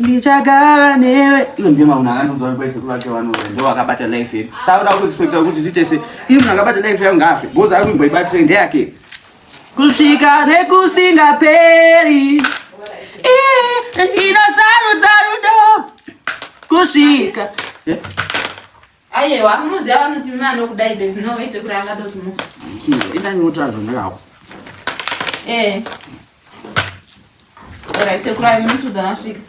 ndichagara newe iyo ndiye maunhu akandiudza kuti kwaisekuru vake vanove ndo vakabata life yedu saakuda kuexpecta kuti titese ii munhu akabata life yangu ngaafe bhozi ari kuimbo ibatire ndeyake kusvika nekusingaperi ndinosarudza rudo kusvika eh? Ayewa munoziva vanoti mume anokudai there's no way sekuri angatoti mu. Chii ita nyota zvondakawa. Eh. Alright sekuri ayi muntu dzanasvika.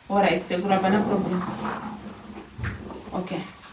Alright sekuri hapana problem. Okay.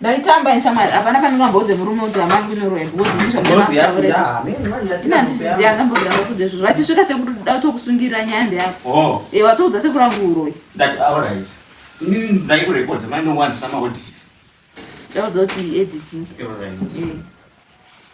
ndaitamba neshamwari hapana pandingamboudze murume kuti amai kunoroya bcauseaaiziziva ndambobira vakudza izvozvo vachisvika sekuti da kutokusungirira nyaya ndeyako oh. e eh, watoudza sekuri angu uroyi ndaudza kuti editing eh.